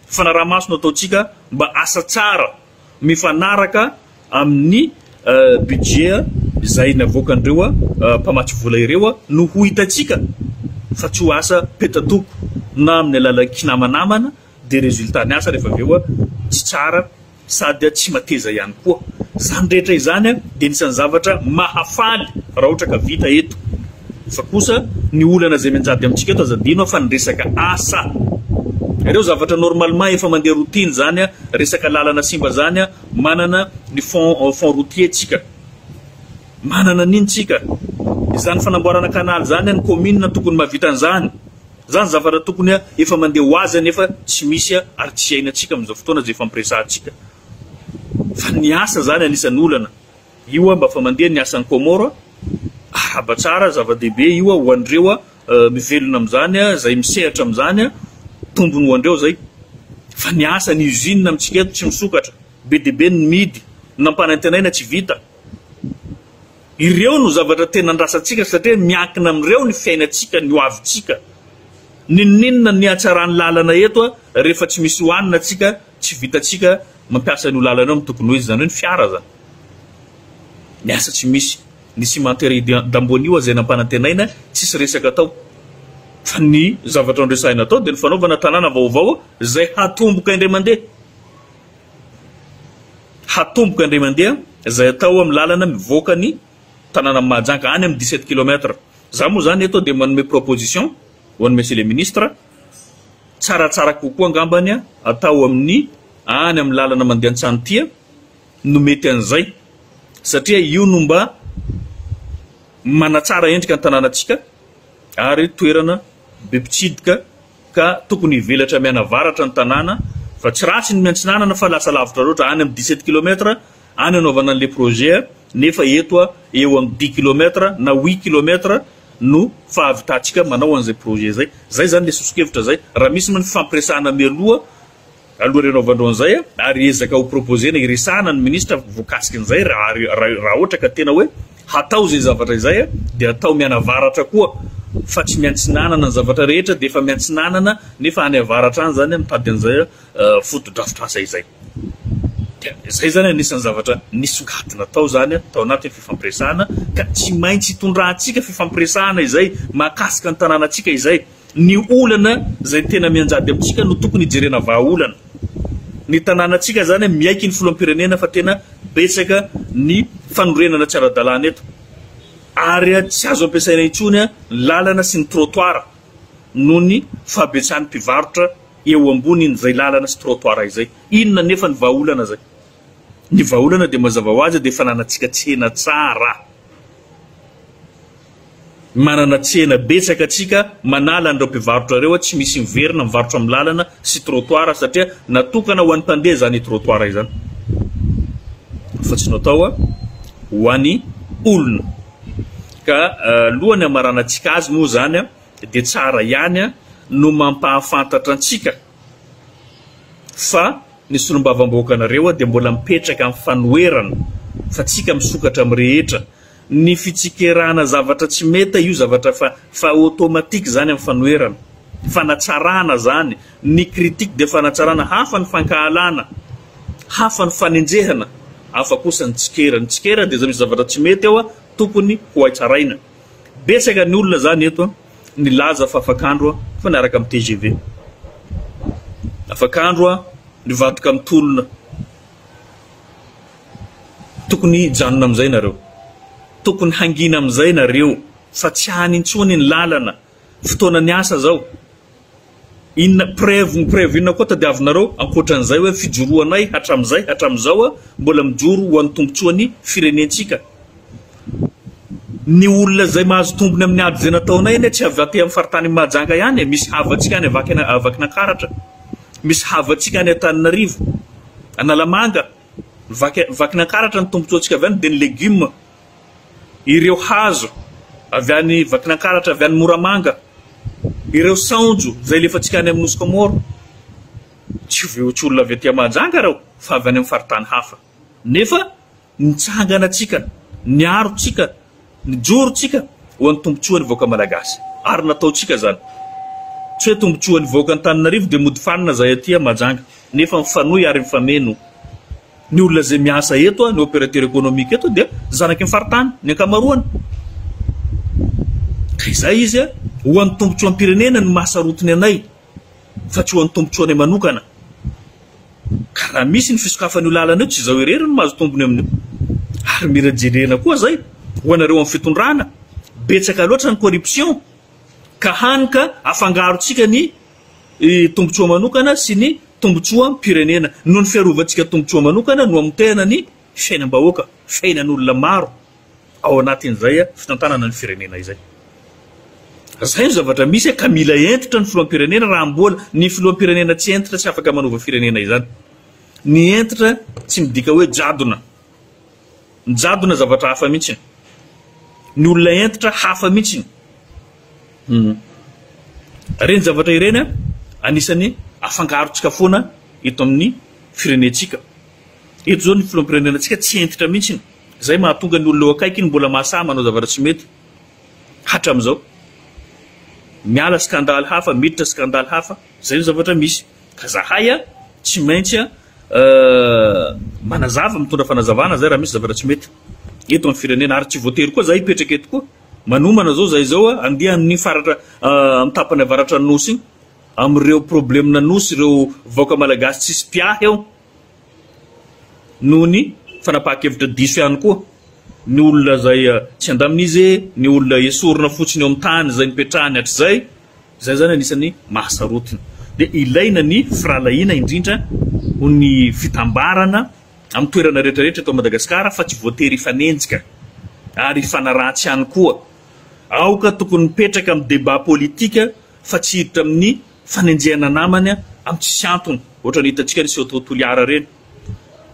Fanaraha-maso no ataontsika mba asa tsara mifanaraka amin'ny budget zay navoakan'ireo a mpamatsy vola ireo a no ho hitantsika fa tsy ho asa peta-toko na amin'ny alalan'ny kinamanamana de resultat ny asa rehefa avy eo a tsy tsara. Sady tsy mateza ihany koa. Izany rehetra izany dia anisan'ny zavatra mahafaly raha ohatra ka vita eto. Fa kosa ny olana izay mianjady amintsika eto aza adino fa ny resaka asa. Ireo zavatra normalement efa mandeha routine izany, resaka lalana simba izany, manana ny fonds fonds routiers tsika. Manana an'iny tsika. Izany fanamboarana canal izany ny commune tokony mahavita an'izany. Zany zavatra tokony efa mandeha ho azy nefa tsy misy ary tsy iainantsika amin'izao fotoana izay efa ampiresahantsika fa ny asa zany anisan'ny olana io aho mba fa mandeha ny asan'ny Comore araba tsara zava-dehibe io aho ho an'ireo a mivelona amin'izany a izay misehatra amin'izany a tombony ho andreo zay fa ny asa ny usine amintsika eto tsy misokatra be dia be ny midy nampanantenaina tsy vita Ireo no zavatra tena andrasantsika satria miankina amin'ireo ny fiainantsika, ny hoavintsika. Ninoninona ny hatsaran'ny lalana eto rehefa tsy misy hohanina tsika, tsy vitantsika mampiasa an'io lalana io amin'ny tokony ho izy, izany hoe ny fiara izany. Ny asa tsy misy, ny cimenterie io dambony io aza izay nampanantenaina tsisy resaka atao. Fa ny zavatra noresahina tao dia ny fanaovana tanàna vaovao izay hatomboka indray mandeha. Hatomboka indray mandeha izay atao amin'ny lalana mivoaka ny tanànan'i Mahajanga any amin'ny dix-sept kilomètre. Izaho moa izany eto dia manome proposition ho an'i Monsieur le Ministre, tsaratsara kokoa angambany atao amin'ny any amin'ny lalana mandeha Antsantia no mety an'izay satria io no mba manatsara endrika ny tanànantsika ary toerana be mpitsidika. ka tokony hivelatra mianavaratra ny tanàna fa tsy ratsy ny miantsinanana fa lasa lavitra loatra any amin'ny dix sept kilomètre any anaovana an'ilay projet nefa eto a eo amin'ny dix kilomètre na huit kilomètre no fahavitantsika manao an'izay projet zay zay zany le sosokevitra zay raha misy moa ny fifampiresahana mialoha Aloha ireo anaovandreo an'izay ary ezaka ho proposer-na hiresahana ny ministra voakasika an'izay raha raha ohatra ka tena hoe hatao izay zavatra izay dia atao mianavaratra koa fa tsy miantsinanana ny zavatra rehetra dia efa miantsinanana nefa any avaratra any izany mitady an'izay fotodrafitrasa izay dia izay izany anisan'ny zavatra nisongadina tao izany tao anatin'ny fifampiresahana ka tsy maintsy hitondrahantsika fifampiresahana izay mahakasika ny tanànantsika izay Ny olana izay tena mianjady amintsika no tokony hijerena vahaolana. Ny tanànantsika izany miaiky ny filoham-pirenena fa tena betsaka ny fanorenana tsy ara-dalàna eto ary tsy azo ampiasaina intsony ny lalana sy ny trottoir noho ny fahabetsahan'ny mpivarotra eo ambonin'izay lalana sy trottoir izay. Inona anefa ny vahaolana izay? Ny vahaolana dia mazava ho azy dia fananantsika tsena tsara. Manana tsena betsaka antsika manala an'ireo mpivarotra ireo, tsy misy miverina mivarotra amin'ny lalana sy trottoir satria natokana ho an'ny mpandeha izany trottoir izany fa tsy natao ho an'ny olona ka alohan'ny hamaranantsika azy moa izany dia tsara ihany no mampahafantatra antsika fa ny solombavamboakanareo dia mbola mipetraka amin'ny fanoherana fa tsika misokatra amin'ny rehetra Ny fitsikerahana zavatra tsy meta io zavatra fa fa automatique zany am fanoherana. Fanatsarana zany. Ny critique dia fanatsarana. Hafa ny fankahalana. Hafa ny fanenjehana. Hafa kosa ny tsikera. Ny tsikera dia za misy zavatra tsy mety ao a tokony ho hay tsaraina. Betsaka ny olona zany eto a nilaza fa afak'andro a fa niaraka am tgv. Afak'andro a nivadika am tolona. Tokony hijanona amin'izay nareo. Tokony hangina amin'izay nareo fa tsy any intsony ny lalana. Fotoanan'ny asa izao. Inona preuve ny preuve inona koa tadiavinareo ankoatran'izay hoe fijoroanay hatramin'izay hatramin'izao a mbola mijoro ho an'ny tombotsoan'ny firenentsika. Ny olona izay mahazo tombony amin'ny ady izay nataonay anie tsy avy aty amin'ny faritany Mahajanga ihany e, misy havantsika any Avakina Vakinankaratra. Misy havantsika any Antananarivo, Analamanga, Vaky Vakinankaratra ny tombontsoantsika avy any dia ny legioma. Ireo hazo avy any Vakinankaratra, avy any Moramanga, ireo saonjo izay alefantsika any amin'ny Nosy Kômôro. Tsy voahotsy olona avy aty Mahajanga ireo fa avy any amin'ny faritany hafa. Nefa Nitsangana tsika, niaro tsika, nijoro tsika ho an'ny tombotsoan'ny vahoaka Malagasy ary natao tsika izany. Tsy hoe tombotsoan'ny vahoaka Antananarivo dia mody fanina zahay aty a Mahajanga nefa mifanohy ary mifameno. Ny olona izay miasa eto a, ny operateur economique eto dia zanaky ny faritany ny ankamaroany. Ka izay izy a, ho an'ny tombotsoam-pirenena no maha sarotiny anay. fa tsy ho an'ny tombotsoanay manokana. Ka raha misy ny fisokafan'io lalana io tsy izaho irery no mahazo tombony amin'io. Ary mila jerena koa izay ho anareo amin'ny fitondrana, betsaka loatra ny corruption ka hany ka afangarontsika ny tombotsoa manokana sy ny tombotsoam-pirenena. Noho ny fiarovantsika tombotsoa manokana no amotehana ny. fiainam-bahoaka, fiainan'olona maro ao anatin'izay fitantanana ny firenena izay. Izay no zavatra misy ka mila hentitra ny filoham-pirenena raha mbola ny filoham-pirenena tsy hentitra tsy afaka manova firenena izany. Ny hentitra tsy midika hoe jadona. Ny jadona zavatra hafa mihitsy. Ny olona hentitra hafa mihitsy. Hmm. Ireny zavatra ireny anisan'ny afangarontsika foana eto amin'ny firenentsika. Eto izao ny filoham-pirenenantsika tsy hentitra mihitsy, izay mahatonga ny olona eo akaikiny mbola mahasahy manao zavatra tsy mety hatramin'izao. Miala skandaly hafa, miditra skandaly hafa, izay ny zavatra misy. Ka zahay tsy maintsy manazava, mitondra fanazavana izay raha misy zavatra tsy mety eto amin'ny firenena. Ary tsy voatery koa zahay hipetraka eto koa. Manomana izao zahay izao handeha amin'iny faratra amin'ny tapany avaratran'ny Nosy iny, amin'ireo probleman'ny Nosy, ireo vahoaka malagasy tsisy mpiahy ao. noho ny fanapahan-kevitra diso ihany koa ny olona izay tsy handamin'izy, ny olona esorina fotsiny eo amin'ny tany izay nipetrahany hatrizay, izay izany anisan'ny mahasarotiny. Dia ilaina ny firahalahiana indrindra ho ny fitambarana amin'ny toerana rehetrarehetra eto Madagasikara fa tsy voatery hifanenjika ary hifanaratsy ihany koa. Aoka tokony mipetraka amin'ny débat politique. fa tsy hiditra amin'ny fanenjehana namany amin'ny tsisy antony ohatra ny hitantsika ny Sehotoho Toliara ireny.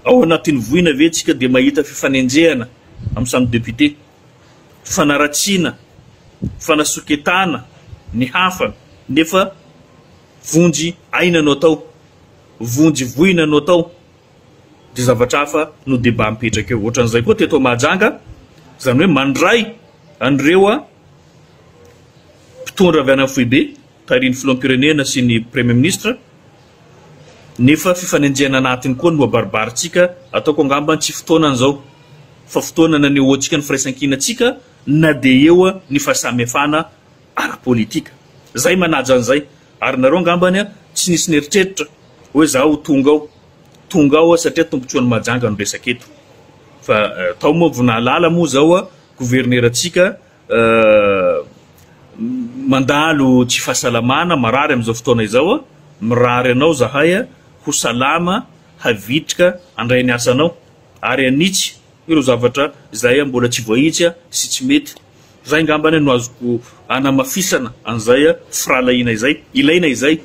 Ao anatin'ny voina ve tsika dia mahita fifanenjehana amin'ny samy député? Fanaratsiana, fanasoketana ny hafa nefa vonjy aina no atao, vonjy voina no atao. dia zavatra hafa no débat mipetraka eo. Ohatran'izay koa teto Mahajanga, izany hoe mandray an'ireo mpitondra avy any amin'ny foibe, tarihin'ny filoham-pirenena sy ny Premier Ministre, nefa fifanenjehana anatiny koa no abaribarintsika, ataoko angamba ny tsy fotoanany izao, fa fotoana nanehoantsika ny firaisankina antsika na dia eo ny fahasamihafana ara-politika zay manaja an'izay ary nareo angambany tsy nisy neritreritra hoe za ho tonga ao tonga ao satria tombotsoan'i Mahajanga no resaka eto fa tao moa vao nahalala moa zao governerantsika mandalo tsy fahasalamana marary amin'izao fotoana izao mirary anao zahay ho salama havitrika andray ny asanao ary anitsy ireo zavatra izay mbola tsy voahitsy sy tsy mety Izay angambany no azoko anamafisana an'izay firahalahiana izay. Ilaina izay.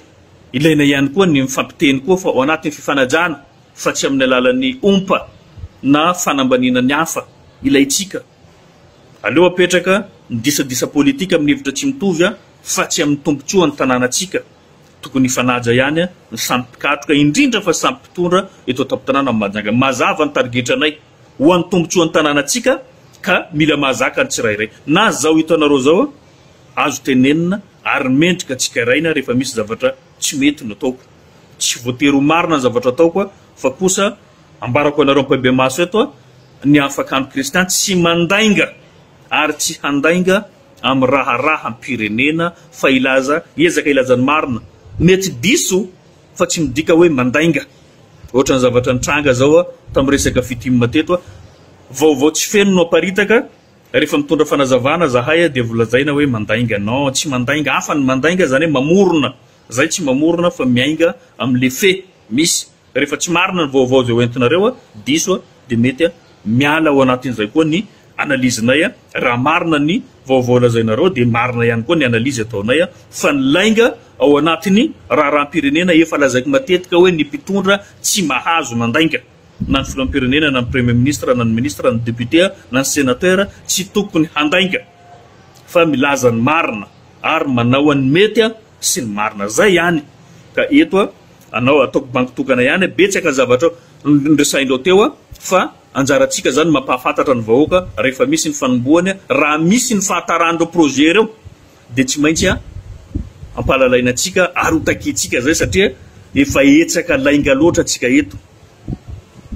Ilaina ihany koa ny mifampiteny koa fa ao anatin'ny fifanajana fa tsy amin'ny alalan'ny ompa na fanambaniana ny hafa ilaintsika. Aleo apetraka ny disadisa politika amin'ny hevitra tsy mitovy fa tsy amin'ny tombontsoan'ny tanànantsika. Tokony hifanaja ihany ny samy mpikatroka indrindra fa samy mpitondra eto an-tampon-tanàna Mahajanga. Mazava ny tarigetranay. Ho an'ny tombotsoan'ny tanànantsika ka mila mahazaka ny tsirairay. Na zao hitanareo zao azo tenenina ary mendrika tsikaraina rehefa misy zavatra tsy mety no ataoko. Tsy voatery ho marina ny zavatra ataoko fa kosa ambarako anareo ampahibemaso eto ny hahafakan'ny kristian tsy mandainga ary tsy handainga amin'ny raharaham-pirenena fa hilaza, hiezaka hilaza ny marina. Mety diso. fa tsy midika hoe mandainga, ohatran'ny zavatra nitranga zao tamin'ny resaka fitim teto, vaovao tsy feno no aparitaka, rehefa mitondra fanazavana zahay dia volazaina hoe mandainga, non tsy mandainga, hafa ny mandainga zany hoe mamorona, zay tsy mamorona fa miainga amin'le fait misy, rehefa tsy marina ny vaovao zay hoentinareo, diso dia mety miala ao anatin'izay koa ny analyse-nay a, raha marina ny vaovao lazainareo dia marina ihany koa ny analyse ataonay a, fa ny lainga ao anatin'ny raharaham-pirenena efa lazaiko matetika hoe ny mpitondra tsy mahazo mandainga na ny filoham-pirenena na ny premier ministre na ny ministre na ny député a, na ny sénateur a, tsy tokony handainga fa milaza ny marina ary manao an'ny mety a sy ny marina, zay ihany ka eto a, anao ataoko bango tokana ihany a, betsaka ny zavatra nresahinreo teo a, fa. Anjarantsika izany ny mampahafantatra ny vahoaka rehefa misy ny fanombohany, raha misy ny fahataran'ireo projet ireo dia tsy maintsy ampahalalaina antsika ary ho takintsika izay satria efa hetsaka lainga loatra tsika eto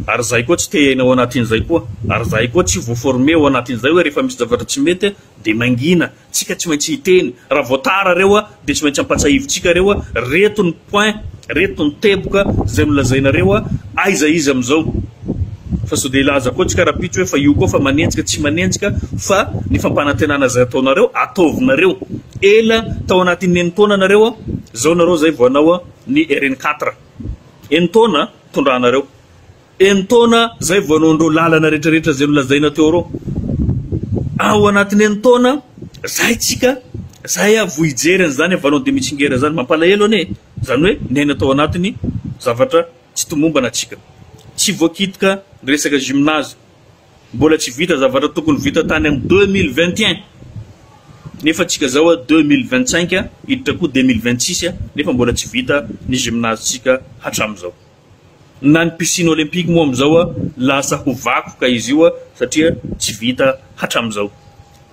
ary izahay koa tsy te hiaina ao anatin'izay koa ary izahay koa tsy voaformer ao anatin'izay hoe rehefa misy zavatra tsy mety dia mangina tsika tsy maintsy hiteny raha vao tara reo a de tsy maintsy ampatsahivitsika reo a reto ny point reto ny teboka zay nolazaina reo a aiza izy amizao fa sao de hilaza koa tsika rapitso hoe fa io koa fa manenjika tsy manenjika fa ny fampanantenana zay ataonareo ataovinareo ela tao anaty ny enintaona nareo a zao nareo zay vao anao a ny rn quatre enintaona tondranareo Enin-taona izay vao hanao an'ireo lalana rehetrarehetra izay nolazaina teo ireo. Ao anatin'ny enin-taona izay tsika izay avo hijery an'izany Avalon de Mitsingera izany. Mampalahelo anie e! Izany hoe niaina tao anatin'ny zavatra tsy tomombana tsika. Tsy voakitika ny resaka gymnase. Mbola tsy vita zavatra tokony vita tany amin'ny deux mille vingt et un nefa tsika izao a deux mille vingt cinq hiditra koa deux mille vingt six nefa mbola tsy vita ny gymnase tsika hatramin'izao. Na ny piscine olympique moa amin'izao a, lasa ho vakoka izy io a, satria tsy vita hatramin'izao.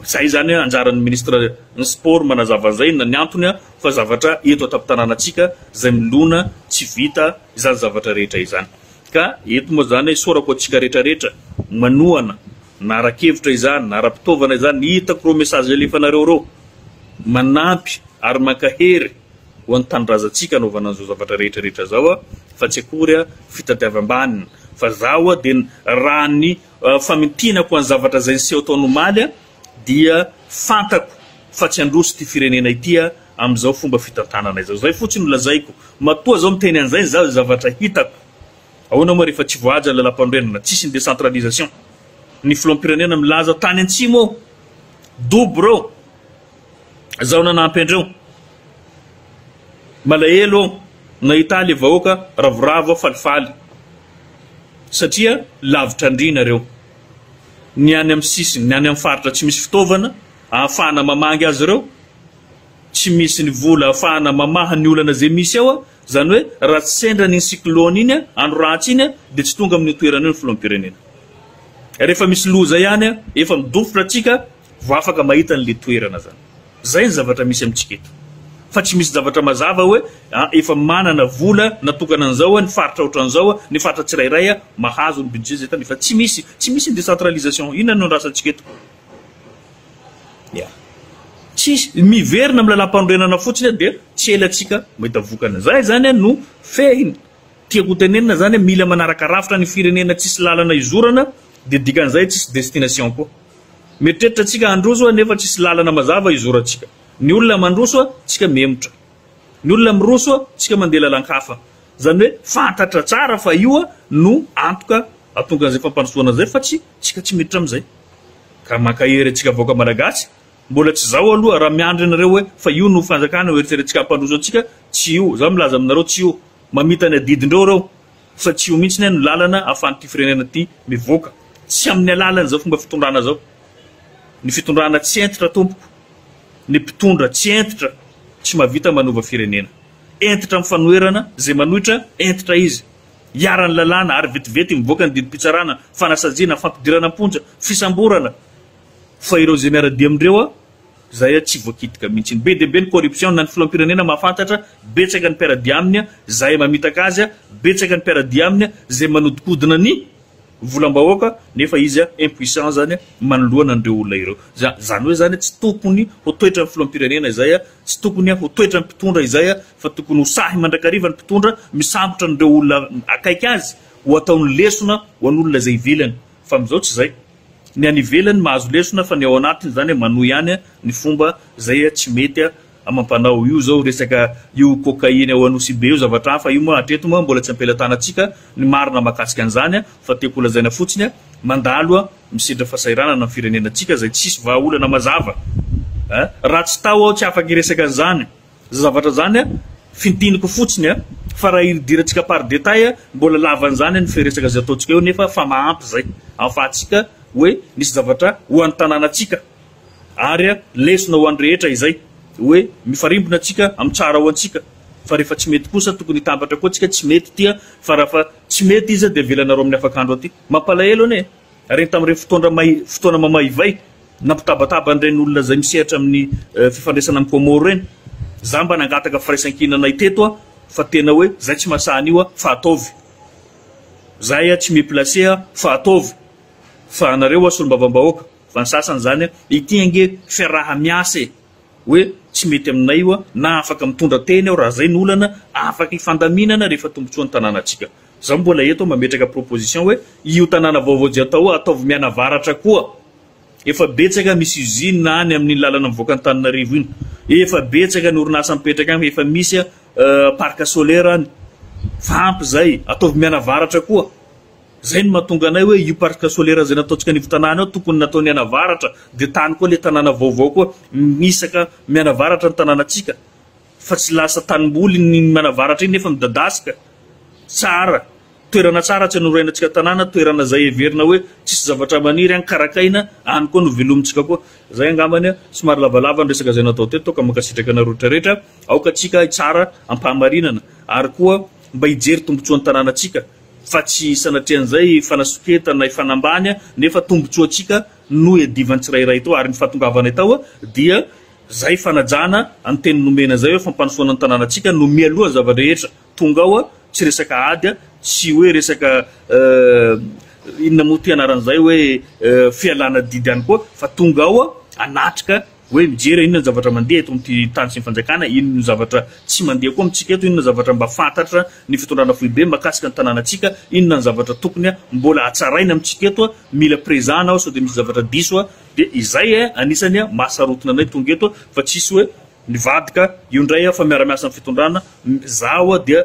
Izay izany a, anjaran'ny ministra ny sport manazava an'izay, inona ny antony a, fa zavatra eto an-tampon-tanànantsika izay milona tsy vita izany zavatra rehetra izany. Ka eto moa izany, isaorako antsika rehetra rehetra manohana na ara-kevitra izany, na ara-pitaovana izany, hitako ireo message alefanareo ireo, manampy ary mankahery. Ho an'ny tanindrazantsika anaovana an'izao zavatra rehetra rehetra izao a, fa tsy akory a, fitadiavam-baniny. Fa zaho a dia raha ny famintinako an'ny zavatra izay niseho taona omaly a, dia fantako fa tsy handroso ity firenena ity a, amin'izao fomba fitantanana izao. Izay fotsiny no lazaiko. Matoa zao miteny an'izay zaho, izay zavatra hitako. Ahoana moa rehefa tsy voahaja ilay lampanorenana, tsisy ny décentralisation. Ny filoham-pirenena milaza tany antsimo ao, dobo reo. Zao nanampy andreo. Malahelo aho nahita le vahoaka ravoravo aho falifaly satria lavitra an-dry nareo. Ny any amin'ny sisiny, ny any amin'ny faritra tsy misy fitaovana ahafahana mamangy azy ireo, tsy misy ny vola ahafahana mamaha ny olana izay misy ao, izany hoe raha tsy sendra an'iny cyclone iny, andro ratsy iny dia tsy tonga amin'io toerana io ny filoham-pirenena. Rehefa misy loza ihany efa midofotra antsika Vao afaka mahita an'le toerana zany. Zay ny zavatra misy amintsika eto. Fa tsy misy zavatra mazava hoe a efa manana vola natokana an'zao a ny faritra otran'zao a ny faritra tsirairay a mahazo ny budget zay tany fa tsy misy. Tsy misy ny décentralisation. Inona no andrasantsika eto? Ya. Tsisy. Miverina amin'ny lalam-panorenana fotsiny a dia tsy ela tsika mahita vokany. Zay zany a no fehiny. Tiako ho tenenina zany a mila manaraka rafitra ny firenena tsisy lalana izorana dia dikan'zay tsisy destination koa. Mieritreritra tsika handroso nefa tsisy lalana mazava hizorantsika. Ny olona mandroso tsika mihemotra. Ny olona miroso tsika mandeha lalan-kafa. Izany hoe fantatra tsara fa io no antoka ahatonga an'izay fampandrosoana izay fa tsy tsika tsy miditra amin'izay. Ka mankahery antsika vahoaka malagasy, mbola tsy zao aloha raha miandry anareo hoe fa io no fanjakana ho eritreretintsika hampandroso antsika, tsy io. Za milaza aminareo tsy io. Mamita ny adidindreo reo. fa tsy io mihitsy anie no lalana ahafahan'ity firenena ity mivoaka, tsy amin'ny alalan'izao fomba fitondrana izao, ny fitondrana tsy hentitra tompoko, ny mpitondra tsy hentitra tsy mahavita manova firenena, hentitra amin'ny fanoherana izay manohitra hentitra izy, iharan'ny lalàna ary vetivety mivoaka ny didim-pitsarana, fanasaziana, fampidirana am-ponja, fisamborana, fa ireo izay miara-dia amin'ireo Zay tsy voakitika mihitsy. Be dia be ny corruption na ny filohampirenena mahafantatra, betsaka ny mpiara-dia aminy, zahay mamitaka azy, betsaka ny mpiara-dia aminy zay manodikodina ny volam-bahoaka nefa izy impuissant zany manoloana an'ireo olona ireo. Za, zany hoe zany tsy tokony ho toetra ny filohampirenena izay, tsy tokony ho toetra ny mpitondra izay fa tokony ho sahy mandrakariva ny mpitondra misambotra an'ireo olona akaiky azy ho ataony lesona ho an'olona izay ivelany fa amin'izao tsy zay. Ny any ivelany mahazo lesona fa ny ao anatiny zany manohy ihany ny fomba zay tsy mety amam-panao. Io zao resaka io cocaïne ao Anosibe io zavatra hafa io moa hatreto moa mbola tsy am-pelatanantsika ny marina mahakasika an'izany fa tiako holazaina fotsiny mandalo misedra fasahiranana ny firenenantsika zay tsisy vahaolana mazava. Raha tsy tao aho tsy afaka hiresaka an'izany. Zay zavatra zany a, fintiniko fotsiny a, fa raha ildirantsika par détail a, mbola lavan'izany ny firesaka zay ataontsika eo nefa fa mahampy zay ahafahantsika hoe misy zavatra ho an'ny tanànantsika ary a lesona ho an'ny rehetra izay hoe mifarimbona tsika amin'ny tsara ho antsika fa rehefa tsy mety kosa tokony hitambatra koa tsika tsy mety tia fa raha fa tsy mety izy a dia avelanareo amin'ny afakandro aty. Mampalahelo anie e! Ireny tamin'ireny fotoana may, fotoana mamaivay, nampitabataba an'ireny olona izay misehatra amin'ny fifandraisana amin'i Comore ireny. Izaho mba nangataka firaisan-kina anay teto aho fa tena hoe izay tsy mahasaha an'io aho fa ataovy. Izahay aho tsy mi placer aho fa ataovy. Fa anareo aho solombavambahoaka, fa ny sasany izany an, ity ange fiaraha-miasa e! hoe tsy mety aminay io aho na afaka mitondra teny aho raha izay no olana, afaka hifandaminana rehefa tombontsoan'ny tanànantsika. Zaho mbola eto mametraka proposition hoe io tanàna vaovao Jiatao ataovy mianavaratra koa. Efa betsaka misy usine any amin'iny lalana mivoaka Antananarivo iny. Efa betsaka ny orinasa mipetraka any efa misy parc solaire any. Fa ampy zay. Ataovy mianavaratra koa. Zay no mahatonga anay hoe io parc solaire zay nataontsika anivo tanàna io tokony natao nianavaratra dia tany koa le tanàna vaovao koa mihisaka mianavaratra ny tanànatsika. fa tsy lasa tanimboly ny manavaratra iny nefa midadasika tsara toerana tsara tsy anorainantsika tanàna toerana zay heverina hoe tsisy zavatra maniry any karakaina any koa no velomintsika koa zay angambany somary lavalava ny resaka zay natao teto ka mankasitraka anareo rehetra rehetra aoka tsika hitsara ampahamarinana ary koa mba hijery tombotsoan'ny tanànatsika fa tsy sanatrian'izay fanasoketana hifanambany nefa tombotsoantsika no iadivan'ny tsirairay tao ary ny fahatongavanay tao dia Zay fanajana any teny nomena zay hoe fampanofoana ny tananantsika no mialoha ny zava-drehetra, tonga ao a, tsy resaka ady a, tsy hoe resaka eh, inona moa ty anaran'izay hoe eh, fialana didy ihany koa fa tonga ao a, anatrika hoe mijery a, inona ny zavatra mandeha eto amin'ity tany sy ny fanjakana, inona ny zavatra tsy mandeha koa amintsika eto, inona ny zavatra mba fantatra ny fitondrana foibe makasika ny tananantsika, inona ny zavatra tokony a, mbola hatsaraina amintsika eto a, mila prezana aho sao dia misy zavatra diso a, Dia izay eh anisany eh mahasarotiny anay tonga eto eh fa tsisy hoe nivadika io ndray eh fa miara-miasa amin'ny fitondrana zaho eh dia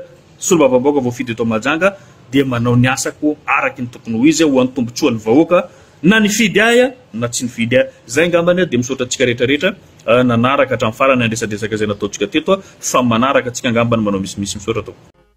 solombavambahoaka voafidy eto Mahajanga dia manao ny asako araky ny tokony ho izy ho an'ny tombotsoan'ny vahoaka na nifidy ahy eh na tsy nifidy ahy. Zay ngambany eh dia misaotra antsika rehetra rehetra eh nanaraka hatramin'ny farany ny andresadresaka izay nataontsika teto eh fa manaraka antsika ngambany manao misimisy. Misaotra tompoko.